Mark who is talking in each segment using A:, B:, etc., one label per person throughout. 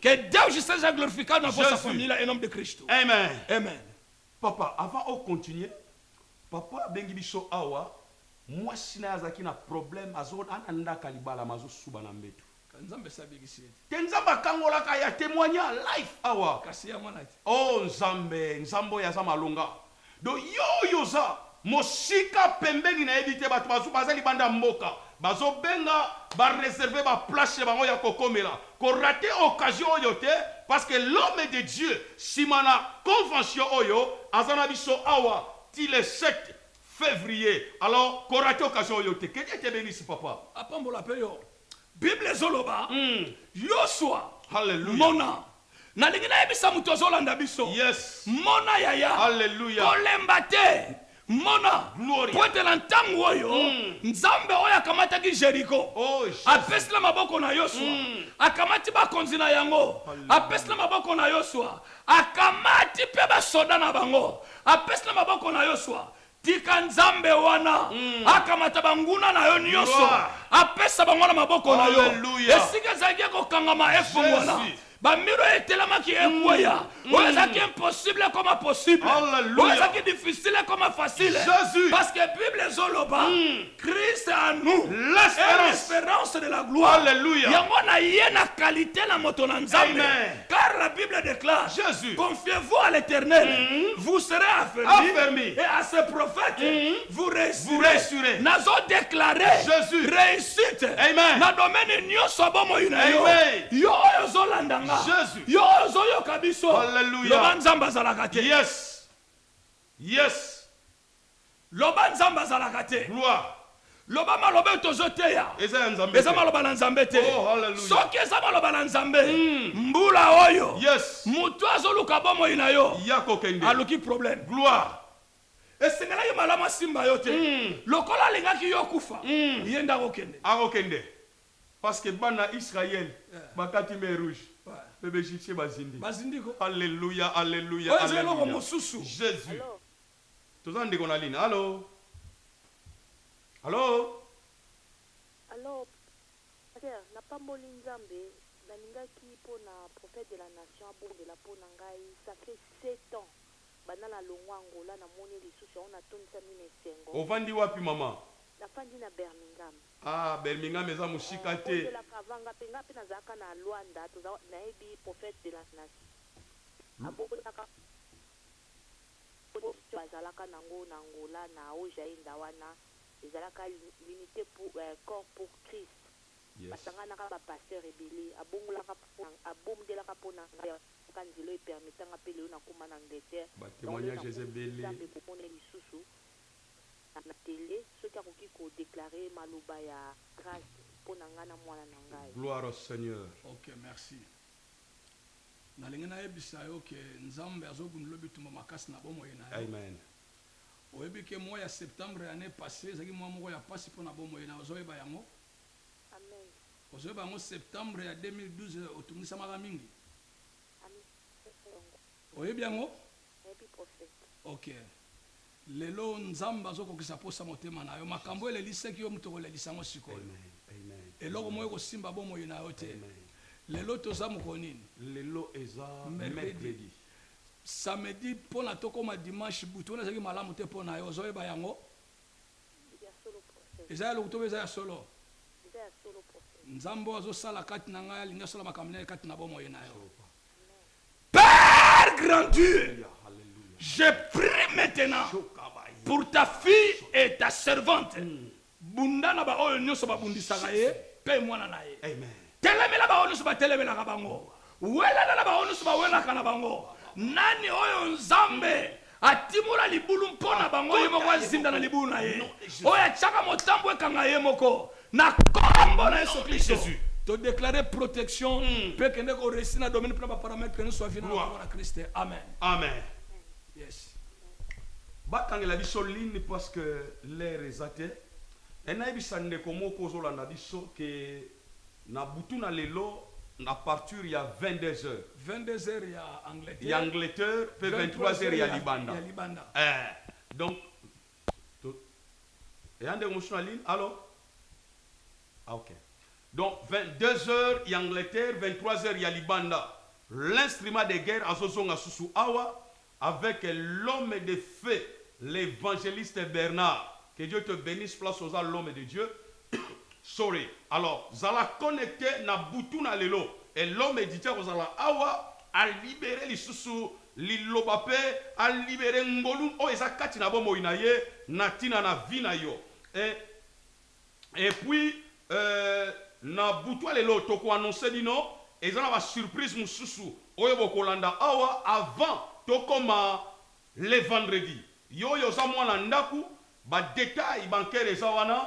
A: Que Deus seja glorificado na vossa família em nome de Cristo. Amen. Amen. Papa, avant
B: o continuer, papa abengi biso awa mwasi na ye azalaki na problème azo ana ndaka libala ma azosuba na mbetu nzambe esi abikisi
A: ye te nzambe akangolaka
B: ya témoigna life awa kasi ya mwana te o
A: oh, nzambe
B: nzambe oyo aza malonga Donc yo oyo oza mosika pembeni nayebi te batu bazo baza libanda ya mboka bazo benga ba reserver ba place chez bango ya ko komela ko rater occasion oyo te parce que l'homme de Dieu sima na convention oyo aza na biso awa ti le sept fevrier alors ko rater occasion oyo te que Dieu te benisse papa. Apambola pe yo.
A: Bible ezoloba Yosua, Hallelujah. mona. Nalingi nayebisa moto azolanda biso, Yes. mona
B: yaya,
A: Alleluia. kolemba
B: te,
A: mona, Gloria. mpo ete na
B: ntango oyo
A: Mm. Nzambe oyo akamataki Jeriko, Oh, Jesus. apesi
B: na maboko na
A: Yosua, Mm. akamati bakonzi na yango, Alleluia. apesi na maboko na Yosua, akamati mpe basoda na bango, apesi na maboko na Yosua. Tika Nzambe wana akamata banguna na yo nyonso, apesa
B: bango na
A: maboko na yo. Esika ezalaki
B: ya
A: kokangama efongwana, bamir oyo
B: etelemaki
A: ekweya, oyo ezalaki impossible ekoma possible, oyo ezalaki
B: difficile
A: ekoma facile, parce que
B: Bible
A: ezoloba. Christ en nous l'espérance de la gloire. Alléluia. Yango na
B: ye na
A: qualité na moto na Nzambe. Car la
B: Bible déclare
A: Jésus. Confiez-vous
B: à l'Éternel.
A: Mm -hmm. Vous serez affermis. Affermi. Et
B: à ses
A: prophètes mm -hmm. vous réussirez. Vous réussirez. Nazo
B: déclaré
A: Jésus. Réussite.
B: Amen.
A: Na domaine
B: nyoso
A: bomoi na yo. Yo oyo
B: ozolanda
A: nga. Jésus. Yo oyo
B: ozoyoka
A: biso. Alléluia. Loba Nzambe
B: azalaka
A: te. Yes.
B: Yes.
A: Loba nzambe azalaka te. Gloire.
B: Loba maloba
A: oyo tozo teya Eza ya Nzambe eza te.
B: maloba na Nzambe te.
A: Oh, hallelujah. Soki eza
B: maloba na
A: Nzambe, Mm. mbula oyo Yes. mutu azo
B: luka
A: bomoi na yo Ya kokende. aluki
B: problème. Gloire. Esengelaki
A: malamu asimba yo te. Mm. Lokola alingaki yo okufa, Mm. ye nde akokende. Akokende.
B: Parce que bana Israël Yeah. bakati mer rouge. Ouais. Pe ba Egyptiens
A: bazindi.
B: Bazindi ko. Alléluia, alléluia, Oyo eza eloko alléluia. mosusu.
A: Jésus. Hello.
B: Toza na ndeko na ligne allo allo.
C: Allo pasteur na pamboli nzambe na lingaki pona prophète de la nation abondela pona ngai ça fait sept ans banda na longua angola na moni ye lisusu yango na tondisami na esengo. Ovandi wapi maman?
B: Na fandi na
C: Birmingham. Ah Birmingham
B: eza musika te. Abondelaka avant nga pe nga
C: pe na zalaka na luanda toza nayebi prophète de la nation abondelaka. Oyo bazalaka nango na Angola na Haut-Jainda wana ezalaka l'unite pour corps pour Christ basanganaka
B: ba
C: pasteurs ebele abongolaka pona abomdelaka pona ngai yango kaka nzela oyo e permeta nga pe lelo nakoma na Angleterre yango lelo nakumisi
B: Nzambe komona ye lisusu
C: na tele soki akoki ko declarer maloba ya grace pona ngai na muana na ngai. Gloire au Seigneur.
A: Nalingi nayebisa yo que Nzambe azo gundola bitumba makasi na bomoi na yo. Amen.
B: Oyebi
A: que mois ya septembre ya annee passee ezalaki mois moko ya pasi pona bomoi na yo, ozo yeba yango?
C: Amen. Ozo yeba yango
A: septembre ya 2012 otungisamaka mingi? Amen,
C: nazo yeba
A: yango. Oyebi yango?
C: Nayebi prophète.
A: Ok lelo nzambe azo kokisa posa motema na yo makambo oyo elelisaki yo moto okolelisa yango sikoyo
B: eloko moko ekosimba
A: bomoi na yo te lelo
B: toza mokolo
A: nini
B: lelo
A: eza
B: mercredi
A: samedi pona tokoma dimanche butu wana ezalaki malamu te pona yo ozo yeba yango ya
C: solo prophète eza ya lokuta obe eza ya solo
A: eza ya solo prophète
C: nzambe oyo azo sala
A: kati na ngai alingi asala makambo naye kati na bomoi na yo amen. Père grand Dieu je prie maintenant pour ta fille et ta servante bunda na ba oyo nionso ba bundisaka ye pe mwana na ye telemela
B: ba oyo nionso
A: ba telemelaka bango welana na ba oyo nionso ba welaka na bango nani oyo nzambe Atimola libulu mpo na bango, ye moko azinda na libulu na ye, oyo atiaka motambo ekanga ye moko, na kombo na Yesu Klisto to declare protection pe kende ko reussir na domaine pe na ba parametre nionso ya vie na yo na kombo na Christ amen.
B: Yes. Batangela biso ligne parce que l'heure eza te mais nayebisa ndeko moko ozolanda biso que Na butu na lelo na parture ya 22 heures. 22 heures ya
A: Angleterre. Ya Angleterre
B: pe 23 heures ya libanda. Ya libanda. Ee.
A: Donc
B: to eya ndenge mosusu na ligne. Allo? Ah ok. Donc 22 heures ya Angleterre, 23 heures ya libanda. L'instrument de guerre azo zonga susu awa Avec l'homme de feu l'evangeliste Bernard que Dieu te benisse place oza l'homme de Dieu sorry alors zala connecte na butu na lelo et l'homme de Dieu akozala awa a libere lisusu liloba pe a libere ngolu oyo eza kati na bomoi na ye na tina na vie na yo et et puis euh na butu ya lelo toko annonce bino eza na ba surprise mususu oyo bokolanda awa avant tokoma le vendredi yoyo oza muana ndaku ba detail bancaire eza wana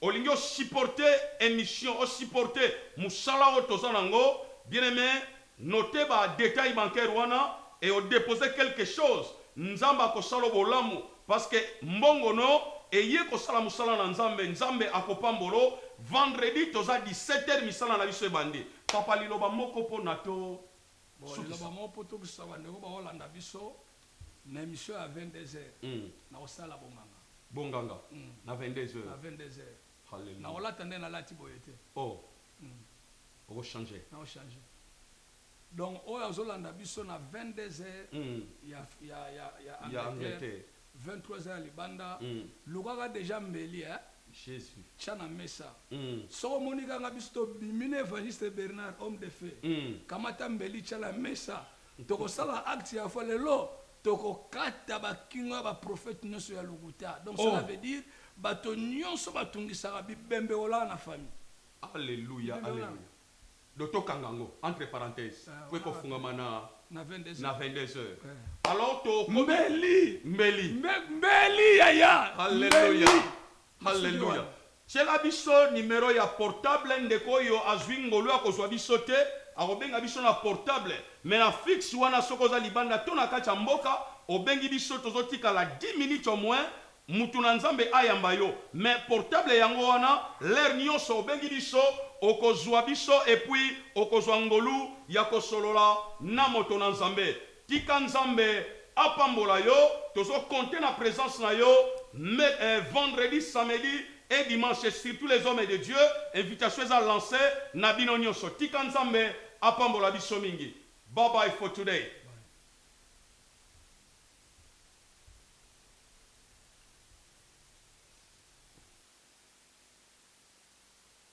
B: olingi o supporte emission o supporte musala oyo toza nango bien aime Noter ba details bancaires wana et o deposer quelque chose, Nzambe ako sala yo bolamu parce que mbongo no eye ko sala musala na Nzambe, Nzambe ako pambola yo, vendredi toza 17 heures misala na biso ebandi. Papa liloba moko po na to Bon liloba sukisa.
A: moko po tokisa ba ndeko bao landa biso, na emission ya 22 heures nako sala bonganga. Bonganga
B: na 22 na heures? 22 heures.
A: Nako Hallelujah. lata
B: nde na lati
A: boye te. Oh.
B: oko change nao change
A: donc oyo azo landa biso na 22 heures ya ya ya ya Angleterre 23 heures ya libanda luka ka dejà mbeli eh Jesus
B: tia na mesa
A: soki omoni ka nga biso to bimi na Evangeliste Bernard homme de feu kamata mbeli tia na mesa toko sala acte ya foi lelo Toko kata ba kingo ya ba prophète nioso ya lokuta donc cela Oh! veut dire bato nioso ba tungisaka bibembe olala na famille. Alleluia
B: Bibembe olala. alleluia donc to kanga yango entre parenthèse Eh po eko olala pe fungama na na 22 na heures 22 heures eh. Alors to komi Mbeli mbeli. Mbe mbeli yaya Alleluia.
A: mbeli.
B: Alleluia tiela biso numero ya portable ndeko oyo azui ngolu ya kozua biso te akobenga biso na portable mais na fixe wana soki oza libanda to na kati ya mboka obengi biso tozo tikala dix minutes au moins mutu na nzambe ayamba yo mais portable yango wana l'heure nionso obengi biso okozua biso epuis okozua ngolu ya kosolola na moto na nzambe Tika nzambe apambola yo tozo compte na presence na yo me vendredi samedi et dimanche surtout les hommes de Dieu invitation eza lance na bino nionso tika nzambe apambola biso mingi bye bye for today.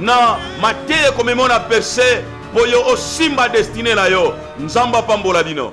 B: na mateya ekomema na perse mpo yo osimba destine na yo. Nzambe apambola bino.